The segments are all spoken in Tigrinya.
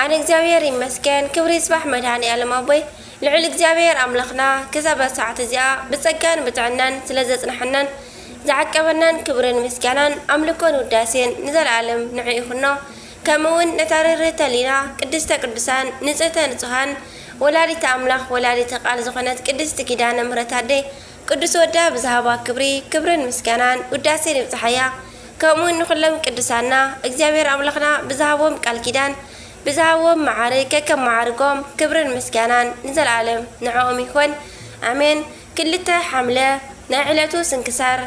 ኣነ እግዚኣብሔር ይመስገን ክብሪ ይስባሕ መድሃኒኣለም ኣቦይ ልዑል እግዚኣብሔር ኣምላክና ክሳብ ዛሰዓት እዚኣ ብፀጋን ብጥዕናን ስለዘፅነሐናን ዝዓቀበናን ክብርን ምስጋናን ኣምልኮን ውዳሴን ንዘላኣለም ንዑ ይኩኖ ከምኡ እውን ነታ ርህርህቲ ህሊና ቅድስተ ቅዱሳን ንፅህተ ንፁሃን ወላዲተ ኣምላክ ወላዲተ ቃል ዝኮነት ቅድስቲ ኪዳነ ምህረት ኣደይ ቅዱስ ወዳ ብዝሃባ ክብሪ ክብርን ምስጋናን ውዳሴን ይብጽሓያ ከምኡውን ንኩሎም ቅዱሳና እግዚኣብሔር ኣምላኽና ብዝሃቦም ቃል ኪዳን ብዝሃብዎም መዓርግ ከከም መዓርጎም ክብርን ምስጋናን ንዘለዓለም ንዕኦም ይኹን ኣሜን ክልተ ሓምለ ናይ ዕለቱ ስንክሳር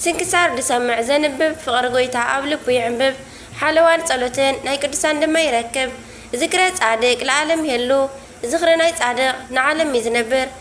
ስንክሳር ዝሰምዕ ዘንብብ ፍቅሪ ጎይታ ኣብ ልቡ ይዕንብብ ሓለዋን ጸሎትን ናይ ቅዱሳን ድማ ይረክብ ዝክረ ጻድቅ ለዓለም ይሀሉ ዝኽሪ ናይ ጻድቅ ንዓለም እዩ ዝነብር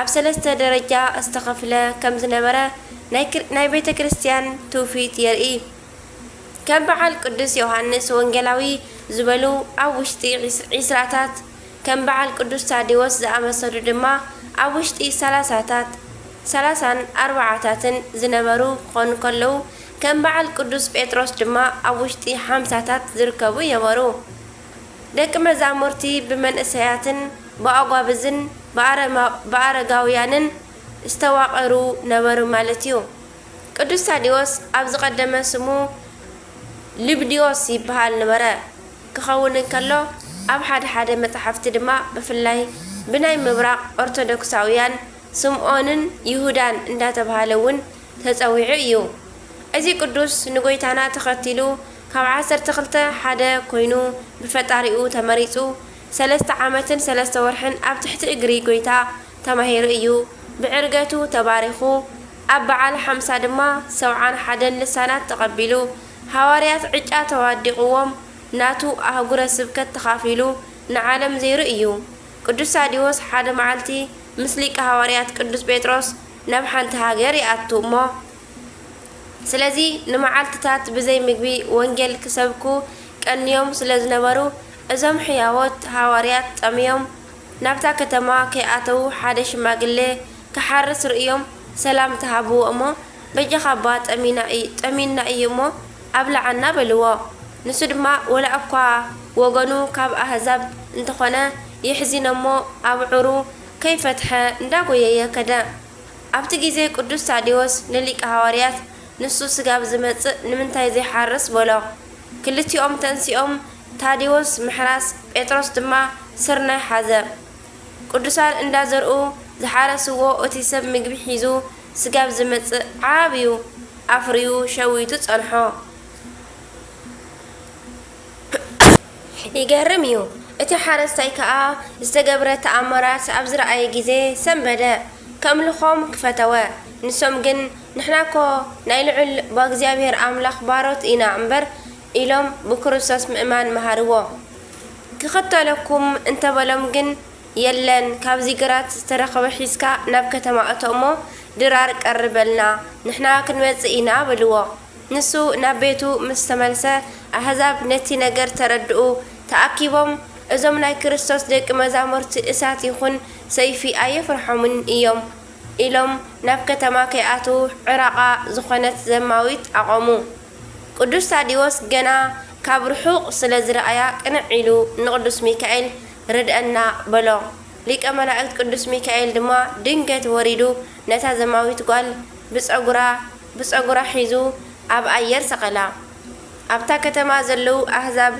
ኣብ ሰለስተ ደረጃ ዝተኸፍለ ከም ዝነበረ ናይ ቤተ ክርስቲያን ትውፊት የርኢ። ከም በዓል ቅዱስ ዮሓንስ ወንጌላዊ ዝበሉ ኣብ ውሽጢ ዒስራታት፣ ከም በዓል ቅዱስ ታዴዎስ ዝኣመሰሉ ድማ ኣብ ውሽጢ ሰላሳታት፣ ሰላሳን ኣርባዓታትን፣ ዝነበሩ ክኾኑ ከለዉ ከም በዓል ቅዱስ ጴጥሮስ ድማ ኣብ ውሽጢ ሓምሳታት ዝርከቡ የበሩ። ደቂ መዛሙርቲ ብመንእሰያትን ብኣጓብዝን ብኣረማብኣረጋውያንን ዝተዋቐሩ ነበሩ ማለት እዩ። ቅዱስ ታዲዎስ ኣብ ዝቐደመ ስሙ ሊብድዮስ ይብሃል ንበረ ክኸውን እንከሎ ኣብ ሓደ ሓደ መጻሕፍቲ ድማ ብፍላይ ብናይ ምብራቕ ኦርቶዶክሳውያን ስምኦንን ይሁዳን እንዳተብሃለ እውን ተጸዊዑ እዩ። እዚ ቅዱስ ንጎይታና ተኸቲሉ ካብ ዓሰርተ ክልተ ሓደ ኮይኑ ብፈጣሪኡ ተመሪጹ ሰለስተ ዓመትን ሰለስተ ወርሕን ኣብ ትሕቲ እግሪ ጎይታ ተማሂሩ እዩ ብዕርገቱ ተባሪኹ ኣብ በዓል ሓምሳ ድማ ሰብዓን ሓደን ልሳናት ተቐቢሉ ሃዋርያት ዕጫ ተዋዲቕዎም ናቱ ኣህጉረ ስብከት ተኻፊሉ ንዓለም ዘይሩ እዩ ቅዱስ ሳዲዎስ ሓደ መዓልቲ ምስ ሊቀ ሃዋርያት ቅዱስ ጴጥሮስ ናብ ሓንቲ ሃገር ይኣቱ እሞ ስለዚ ንመዓልትታት ብዘይ ምግቢ ወንጌል ክሰብኩ ቀንዮም ስለ ዝነበሩ እዞም ሕያዎት ሃዋርያት ጠምዮም ናብታ ከተማ ከይኣተዉ ሓደ ሽማግሌ ክሓርስ ርእዮም ሰላምታ ሃብዎ እሞ በጃኻባ ጠሚና ጠሚዩና እዩ እሞ ኣብልዓና በልዎ ንሱ ድማ ወላእኳ ወገኑ ካብ ኣህዛብ እንተኾነ የሕዚኖሞ ኣብዑሩ ከይፈትሐ እንዳ ጎየየ ከደ። ኣብቲ ግዜ ቅዱስ ታዴዎስ ንሊቀ ሃዋርያት ንሱ ስጋብ ዝመጽእ ንምንታይ ዘይሓርስ በሎ። ክልቲኦም ተንሲኦም ታዴዎስ ምሕራስ ጴጥሮስ ድማ ስርናይ ሓዘ። ቅዱሳን እንዳ ዘርኡ ዝሓረስዎ እቲ ሰብ ምግቢ ሒዙ ስጋብ ዝመጽእ ዓብዩ ኣፍርዩ ሸዊቱ ጸንሖ። ይገርም እዩ። እቲ ሓረስታይ ከኣ ዝተገብረ ተኣምራት ኣብ ዝረኣየ ጊዜ ሰንበደ። ከምልኾም ክፈተወ። ንሶም ግን ንሕና እኮ ናይ ልዑል ብኣግዚኣብሔር ኣምላኽ ባሮት ኢና እምበር ኢሎም ብክርስቶስ ምእማን መሃርዎ። ክኽተለኩም እንተበሎም ግን የለን ካብዚ ግራት ዝተረኽበ ሒዝካ ናብ ከተማ እቶ እሞ ድራር ቀርበልና ንሕና ክንመጽእ ኢና በልዎ። ንሱ ናብ ቤቱ ምስ ተመልሰ፣ ኣህዛብ ነቲ ነገር ተረድኡ። ተኣኪቦም፣ እዞም ናይ ክርስቶስ ደቂ መዛሙርቲ እሳት ይኹን ሰይፊ ኣየፍርሖምን እዮም ኢሎም ናብ ከተማ ከይኣትዉ ዕራቓ ዝኾነት ዘማዊት ኣቖሙ። ቅዱስ ታዲዎስ ገና ካብ ርሑቕ ስለ ዝረኣያ ቅንዕ ኢሉ ንቅዱስ ሚካኤል ርድኣና በሎ። ሊቀ መላእክት ቅዱስ ሚካኤል ድማ ድንገት ወሪዱ ነታ ዘማዊት ጓል ብጸጉራ ብጸጉራ ሒዙ ኣብ ኣየር ሰቐላ። ኣብታ ከተማ ዘለዉ ኣህዛብ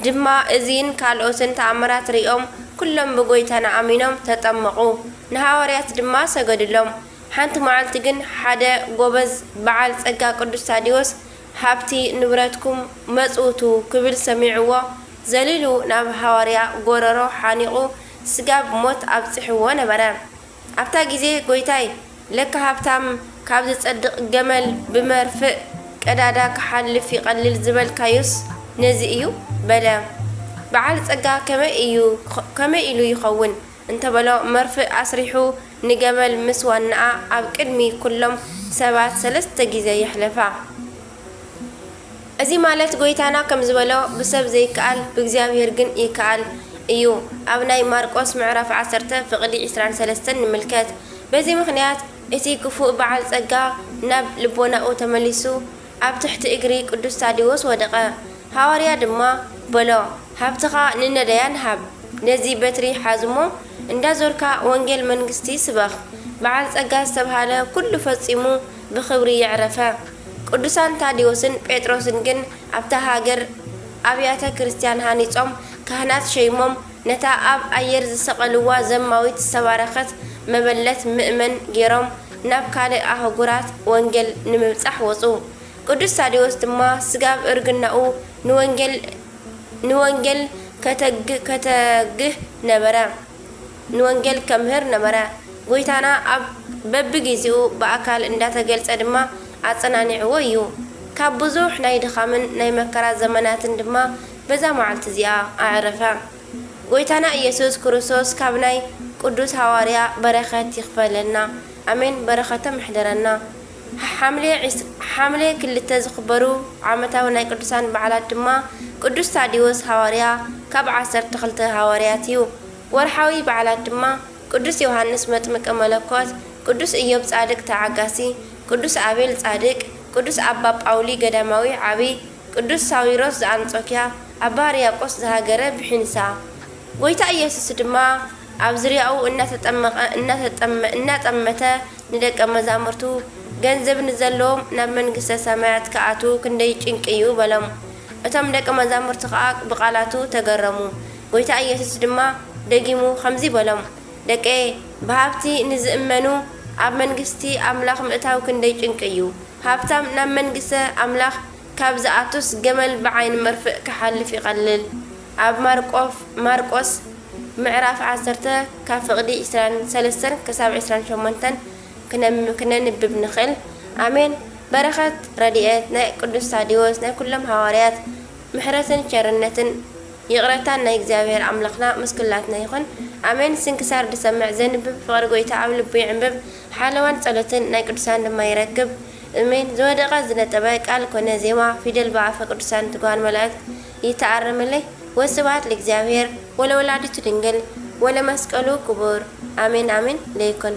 ድማ እዚን ካልኦትን ተኣምራት ርእዮም፣ ኵሎም ብጐይታና ኣሚኖም ተጠመቑ፣ ንሃዋርያት ድማ ሰገዱሎም። ሓንቲ መዓልቲ ግን ሓደ ጐበዝ በዓል ጸጋ ቅዱስ ታዴዎስ ሃብቲ ንብረትኩም መጽውቱ ክብል ሰሚዕዎ ዘሊሉ ናብ ሃዋርያ ጐረሮ ሓኒቑ ስጋብ ሞት ኣብጺሕዎ ነበረ። ኣብታ ግዜ ጎይታይ ለካ ሃብታም ካብ ዝጸድቅ ገመል ብመርፍእ ቀዳዳ ክሓልፍ ይቀልል ዝበልካዮስ ነዚ እዩ በለ በዓል ጸጋ ከመይ እዩ ከመይ ኢሉ ይኸውን እንተበሎ መርፍእ ኣስሪሑ ንገመል ምስ ዋናኣ ኣብ ቅድሚ ኩሎም ሰባት ሰለስተ ግዜ የሕለፋ እዚ ማለት ጎይታና ከም ዝበሎ ብሰብ ዘይከኣል ብእግዚኣብሔር ግን ይከኣል እዩ ኣብ ናይ ማርቆስ ምዕራፍ ዓሰርተ ፍቅዲ ዕስራን ሰለስተን ንምልከት በዚ ምክንያት እቲ ክፉእ በዓል ጸጋ ናብ ልቦናኡ ተመሊሱ ኣብ ትሕቲ እግሪ ቅዱስ ታዴዎስ ወደቀ ሃዋርያ ድማ በሎ ሃብትካ ንነዳያን ሃብ ነዚ በትሪ ሓዝሞ እንዳዞርካ ወንጌል መንግስቲ ስበክ በዓል ጸጋ ዝተብሃለ ኩሉ ፈጺሙ ብኽብሪ የዕረፈ። ቅዱሳን ታዴዎስን ጴጥሮስን ግን ኣብታ ሃገር ኣብያተ ክርስቲያን ሃኒጾም ካህናት ሸይሞም ነታ ኣብ ኣየር ዝሰቐልዋ ዘማዊት ዝተባረኸት መበለት ምእመን ጌሮም ናብ ካልእ ኣህጉራት ወንጌል ንምብጻሕ ወጹ። ቅዱስ ታዴዎስ ድማ ስጋብ እርግናኡ ንወንጌል ንወንጌል ከተግህ ከተግህ ነበረ። ንወንጌል ከምህር ነበረ። ጐይታና ኣብ በብጊዜኡ ብኣካል እንዳተገልጸ ድማ ኣጸናኒዕዎ እዩ። ካብ ብዙሕ ናይ ድኻምን ናይ መከራ ዘመናትን ድማ በዛ መዓልቲ እዚኣ ኣዕረፈ። ጐይታና ኢየሱስ ክርስቶስ ካብ ናይ ቅዱስ ሃዋርያ በረከት ይክፈለና ኣሜን በረከቶም ይሕደረና። ሓምሌ ክልተ ዝክበሩ ዓመታዊ ናይ ቅዱሳን በዓላት ድማ ቅዱስ ታዲዎስ ሃዋርያ ካብ ዓሰርተ ክልተ ሃዋርያት እዩ። ወርሓዊ በዓላት ድማ ቅዱስ ዮሓንስ መጥምቀ መለኮት፣ ቅዱስ እዮብ ጻድቅ ተዓጋሲ፣ ቅዱስ ኣቤል ጻድቅ፣ ቅዱስ ኣባ ጳውሊ ገዳማዊ ዓቢ፣ ቅዱስ ሳዊሮስ ዘኣንጾክያ፣ ኣባ ሕርያቆስ ዘሃገረ ብሒንሳ። ጐይታ ኢየሱስ ድማ ኣብ ዙርያኡ እናተጠመቐ እናተጠመ እናጠመተ ንደቀ መዛሙርቱ ገንዘብ ንዘለዎም ናብ መንግሥተ ሰማያት ክኣትዉ ክንደይ ጭንቂ እዩ በሎም። እቶም ደቀ መዛሙርቲ ከኣ ብቃላቱ ተገረሙ። ጐይታ ኢየሱስ ድማ ደጊሙ ኸምዚ በሎም፣ ደቀየ፣ ብሃብቲ ንዚእመኑ፣ ኣብ መንግስቲ ኣምላኽ ምእታው ክንደይ ጭንቂ እዩ! ሃብታም ናብ መንግስተ ኣምላኽ ካብ ዚኣቱስ፣ ገመል ብዓይኒ መርፍእ ኪሓልፍ ይቐልል። ኣብ ማርቆፍ፣ Marqos፣ ምዕራፍ ዓሰርተ፣ ካብ ፍቕዲ ዕስራን ሰለስተን ክሳብ ዕስራን ሸሞንተን ክነንብብ ንኽእል። ኣሜን! በረኸት፣ ረድኤት፣ ናይ ቅዱስ ታዴዎስ፣ ናይ ኵሎም ሃዋርያት፣ ምሕረትን ቸርነትን፣ ይቕረታን ናይ እግዚኣብሔር ኣምላኽና ምስ ኩላትና ይኹን ኣሜን ስንክሳር ድሰምዕ ዘንብብ ፍቕሪ ጎይታ ኣብ ልቡ ይዕንብብ ሓለዋን ጸሎትን ናይ ቅዱሳን ድማ ይረክብ እሜን ዝወደቐ ዝነጠበ ቃል ኮነ ዜማ ፊደል ብኣፈ ቅዱሳን ትጉሃን መላእክት ይተኣረመለይ ወስብሃት ለእግዚኣብሔር ወለወላዲቱ ድንግል ወለመስቀሉ ክቡር ኣሜን ኣሜን ለይኩን።